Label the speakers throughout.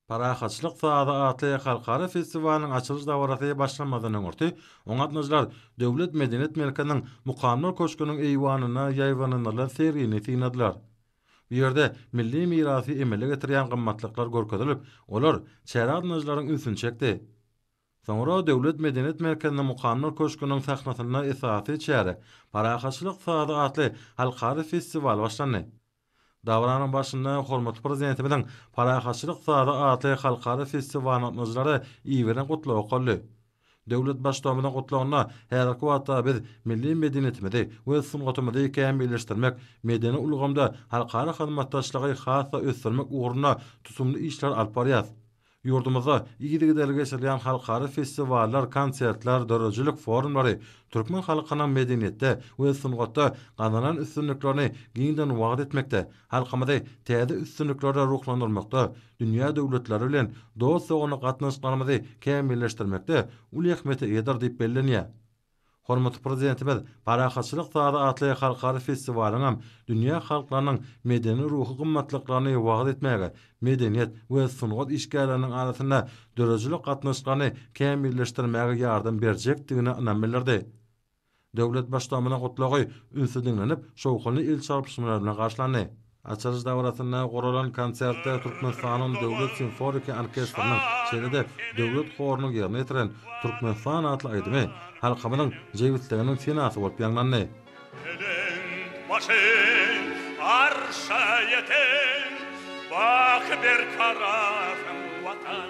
Speaker 1: Parahatçylyk sazy atly halkara festiwalynyň açylyş dabarasy başlamazdan öňürti, oňa gatnaşyjylar Döwlet medeniýet merkeziniň Mukamlar köşgüniň eýwanynda ýaýbaňlandyrylan sergini synladylar. Bu ýerde milli mirasy emele getirýän gymmatlyklar görkezilip, olar çärä gatnaşyjylaryň ünsüni çekdi. Soňra Döwlet medeniýet merkeziniň Mukamlar köşgüniň sahnasynda esasy çäre, Parahatçylyk sazy atly halkara festiwaly başlandy. Dabaranyň barşynda hormatly Prezidentimiziň Parahatçylyk sazy atly halkara festiwalyna gatnaşyjylara iberen gutlagy okaldy. Döwlet Baştutanymyzyň gutlagynda häzirki wagtda biz milli medeniýetimizi we sungatymyzy kämilleşdirmek, medeni ulgamda halkara hyzmatdaşlygy has-da ösdürmek ugrunda tutumly işler alyp barýarys. Ýurdumyzda yzygiderli geçirilýän halkara festiwallar, konsertler, döredijilik forumlary türkmen halkynyň medeniýetde we sungatda gazanan üstünliklerini giňden wagyz etmekde, halkymyzy täze üstünliklere ruhlandyrmakda, dünýä döwletleri bilen dost-doganlyk gatnaşyklarymyzy kämilleşdirmekde uly ähmiýete eýedir diýip bellenýär. Hormatly Prezidentimiz Parahatçylyk sazy atly halkara festiwalyňam dünýä halklarynyň medeni-ruhy gymmatlyklaryny wagyz etmäge, medeniýet we sungat işgärleriniň arasynda döredijilik gatnaşyklaryny kämilleşdirmäge ýardam berjekdigine ynam bildirdi. Döwlet Baştutanymyzyň Gutlagy ünsli diňlenip, şowhunly el çarpyşmalar bilen garşylandy. Açylyş dabarasynda guralan konsertde Türkmenistanyň Döwlet simfoniki orkestriniň, şeýle-de Döwlet horunyň ýerine ýetiren Türkmenistan atly aýdymy halkymyzyň jebisliginiň senasy bolup ýaňlandy. Belent başyň
Speaker 2: arşa ýeten, Baky berkarasyň, Watan!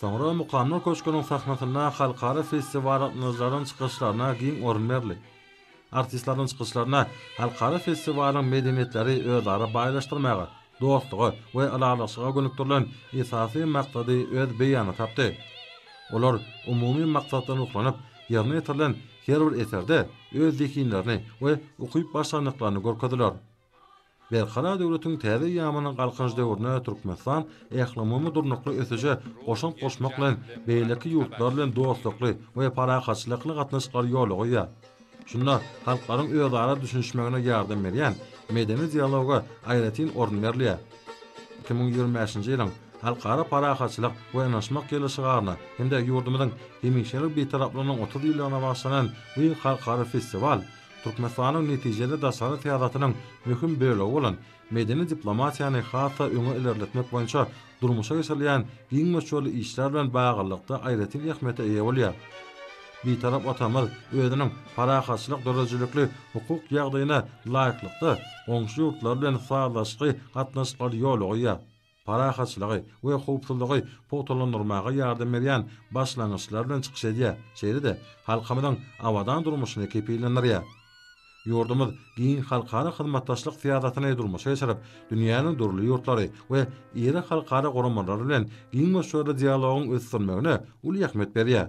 Speaker 2: Soňra
Speaker 1: Mukamlar köşgüniň sahnasynda halkara festiwalyndaşlaryň çykyşlaryna giň orun berli. Artistleriň çykyşlarynda halkara festiwalyň medeniýetleri özara baýlaşdyrmaga, dostluga we ylalaşyga gönükdirilen esasy maksady öz beýanyny tapdy. Olar umumy maksatdan ruhlanyp, ýerine ýetirilen her bir eserde öz zehinlerini we ukyp-başarnyklaryny görkezdiler. Berkarar döwletiň täze ýamanyň galkynyş döwründe Türkmenistan ählumumy durnukly ösüşe goşant goşmak bilen, beýleki ýurtlar bilen dostlukly we parahatçylykly gatnaşyklary ýola goýýar. Şunda halklaryň özara düşünişmegine ýardam berýän medeni dialoga aýratyn orun berilýär. Iki müň ýigrimi bäşinji ýylyň Halkara parahatçylyk we ynaşmak ýyly şygaryna hem-de ýurdumyzyň hemişelik Bitaraplygynyň otuz ýyllygyna bagyşlanan bu halkara festiwal Türkmenistanyň netijeli daşary syýasatynyň möhüm bölegi bolan medeni diplomatiýany has-da öňe ilerletmek boýunça durmuşa geçirilýän giň möçberli işler bilen baglylykda aýratyn ähmiýete eýe bolýar. Bitarap Watanymyz özüniň parahatçylyk döredijilikli hukuk ýagdaýyna laýyklykda, goňşy ýurtlar bilen sazlaşykly gatnaşyklary ýola goýýar. parahatçylygy we howpsuzlygy pugtalandyrmaga ýardam berýän başlangyçlar bilen çykyş edýär, şeýle-de halkymyzyň abadan durmuşyny kepillendirýär. Ýurdumyz giň halkara hyzmatdaşlyk syýasatyny durmuşa geçirip, dünýäniň dürli ýurtlary we iri halkara guramalary bilen giň möçberli dialogyň ösdürilmegine uly ähmiýet berýär.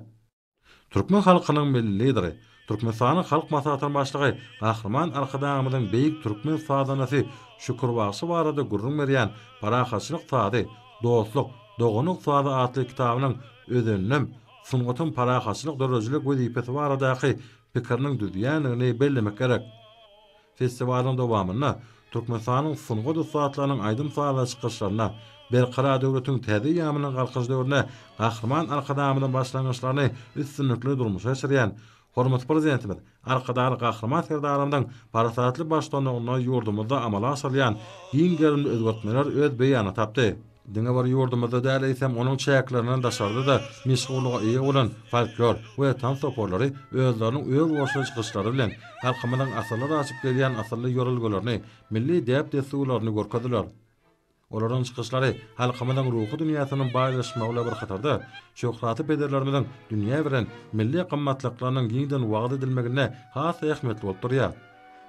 Speaker 1: Türkmen halkynyň Milli Lideri, Türkmenistanyň Halk Maslahatynyň Başlygy Gahryman Arkadagymyzyň beýik türkmen sazandasy Şükür bagşy barada gürrüň berýän Parahatçylyk sazy, dostluk, doganlyk sazy atly kitabynyň özeninem sungatyň parahatçylyk döredijilik wezipesi baradaky pikiriniň düzýändigini bellemek gerek. Festiwalyň dowamynda Türkmenistanyň sungat ussatlarynyň aýdym-sazly çykyşlarynda Berkarar döwletiň täze eýýamynyň Galkynyş döwründe Gahryman Arkadagymyzyň başlangyçlaryny üstünlikli durmuşa geçirýän Hormatly Prezidentimiz Arkadagly Gahryman Serdarymyzyň parasatly baştuanlygynda ýurdumyzda amala aşyrylýan giň gerimli özgertmeler öz beýanyny tapdy. Diňe bir ýurdumyzda däl, eýsem, onuň çäklerinden daşarda-da meşhurlyga eýe bolan folklor we tans toparlary özleriniň özboluşly çykyşlary bilen halkymyzyň asyrlar aşyp gelýän asylly ýörelgelerini, milli däp-dessurlaryny görkezdiler. Olaryň çykyşlary halkymyzyň ruhy dünýäsiniň baýlaşmagy bilen bir hatarda, şöhratly pederlerimiziň dünýä beren milli gymmatlyklarynyň giňden wagyz edilmeginde has-da ähmiýetli bolup durýar.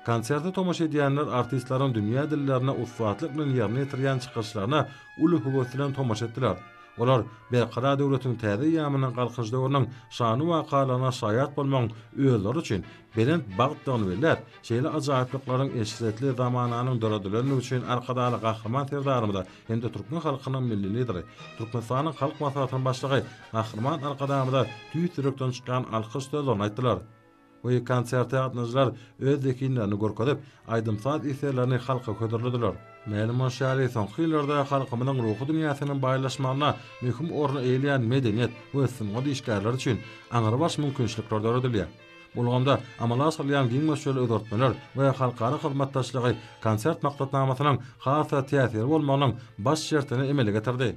Speaker 1: Konserte tomaşa edýänler artistleriň dünýä dillerine ussatlyk bilen ýerine ýetirýän çykyşlaryna uly höwes bilen tomaşa etdiler. Olar Berkarar döwletiň täze eýýamynyň Galkynyş döwrüniň şanly wakalaryna şaýat bolmagyň özleri üçin belent bagtdygyny belläp, şeýle ajaýyplyklaryň eşretli zamananyň döredilendigi üçin Arkadagly Gahryman Serdarymyza hem-de türkmen halkynyň Milli Lideri, Türkmenistanyň Halk Maslahatynyň Başlygy Gahryman Arkadagymyza tüýs ýürekden çykýan alkyş sözlerini aýtdylar. We konserte gatnaşyjylar öz zehinlerini görkezip, aýdym-saz eserlerini halka hödürlediler. Mälim bolşy ýaly, soňky ýyllarda halkymyzyň ruhy dünýäsiniň baýlaşmagynda möhüm orun eýeleýän medeniýet we sungat işgärleri üçin aňrybaş mümkinçilikler döredilýär. Bu ulgamda amala aşyrylýan giň möçberli özgertmeler we halkara hyzmatdaşlygy konsert maksatnamasynyň has-da täsirli bolmagynyň baş şertini emele getirdi.